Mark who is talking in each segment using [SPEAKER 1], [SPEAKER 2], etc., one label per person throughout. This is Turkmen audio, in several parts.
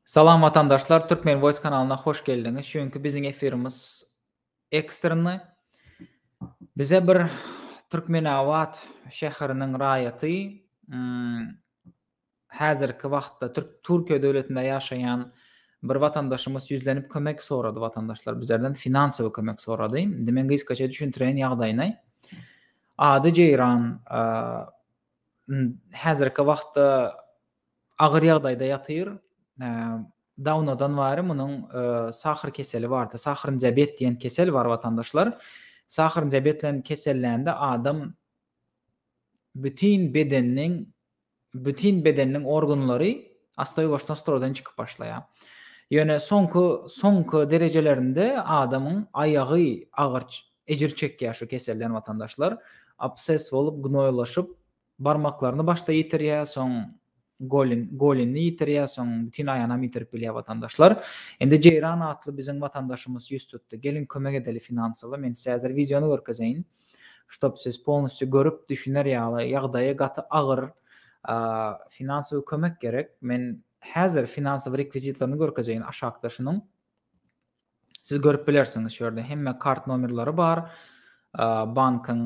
[SPEAKER 1] Salam watandaşlar, Türkmen Voice kanalyna hoş geldiňiz. Şu günki biziň efirimiz ekstrny. Bize bir Türkmenabat şäheriniň raýaty, hmm, häzirki wagtda Türk Türkiýe döwletinde ýaşaýan bir watandaşymyz ýüzlenip kömek sorady watandaşlar bizlerden finansowy kömek sorady. Indi men gysgaça düşündireýin ýagdaýyny. Ady Jeýran häzirki wagtda agyr ýagdaýda ýatyr. Dawnadan bari munuň sahyr keseli bardy. Sahyr diabet diýen kesel bar watandaşlar. Sahyr diabet bilen kesellende adam bütin bedeniniň Bütin bedeniniň organlary astaýuwaşdan stroýdan çykyp başlaýar. Ýöne soňky soňky derejelerinde adamyň aýagy agyr ejir çekýär şu keselden watandaşlar. Absses bolup gnoýlaşyp barmaklaryny başda ýitirýär soň golin golinini ýitirýär soň bütin aýanam ýitirip bilýär watandaşlar. Indi Jeýran atly biziň watandaşymys ýüz tutdy. Geliň kömek edeli finansawy men size häzir wideony görkezeýin. ştob siz polnistçe görüp düşüner ýaly ýagdaýy gaty agyr finansowy kömek gerek men häzir finansowy rekwizitlerini görkezeýin aşakda şunuň siz görüp bilersiňiz şu ýerde hemme kart nomerleri bar bankyň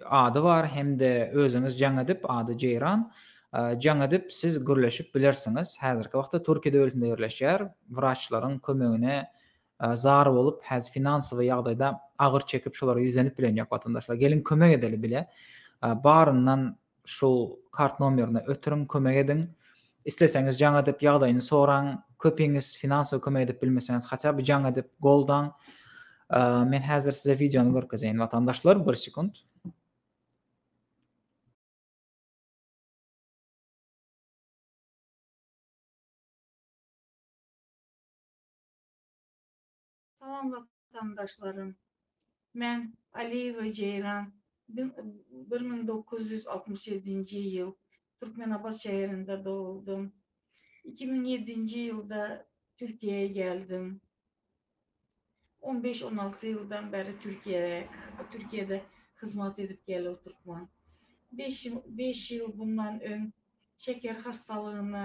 [SPEAKER 1] ady bar hem-de özüňiz jaň edip ady Jeýran jaň edip siz gürleşip bilersiňiz häzirki wagtda Türkiýe döwletinde ýerleşýär wraçlaryň kömegine zar bolup häzir finansowy ýagdaýda agyr çekip şolara ýüzlenip bilen ýok watandaşlar geliň kömek edeli bile baryndan şu kart nomerine ötüriň kömek ediň isleseňiz jaň edip ýagdaýyny soraň köpiňiz finansowy kömek edip bilmeseňiz haça bir jaň edip goldaň men häzir size wideony görkezeýin watandaşlar bir sekunt
[SPEAKER 2] Salam watandaşlarym. Men Aliýewa Jeýran bir müň dokuz ýüz altmyş ýedinji ýyl Türkmenabat şäherinde doguldym. Iki müň ýedinji ýylda Türkiýä geldim. On beş, on alty ýyldan bäri Türkiýede, Türkiýede hyzmat edip gel otyrkman. Beş, beş ýyl bundan öň şeker hastalygyna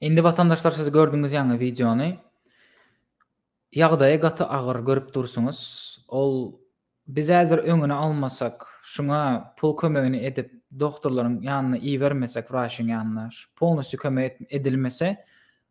[SPEAKER 1] Indi watandaşlar siz gördüňiz ýaňy wideony. Ýagdaýy gaty agyr görüp dursuňyz. Ol biz häzir öňüni almasak, şuňa pul kömegini edip dogtorlaryň ýanyna ibermesek, wraçyň ýanyna, şu polnusýu kömek edilmese,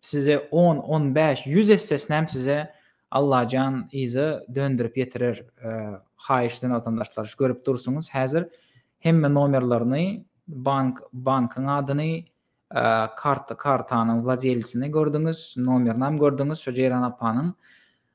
[SPEAKER 1] Size on, on bäş, ýüz essesinem size Allajan yza döndirip ýetirer haýyş size watandaşlar görüp dursuňyz häzir hemme nomerlerini bank bankyň adyny karta kartanyň wladelsini gördüňiz nomerinem gördüňiz şo Jeýran apanyň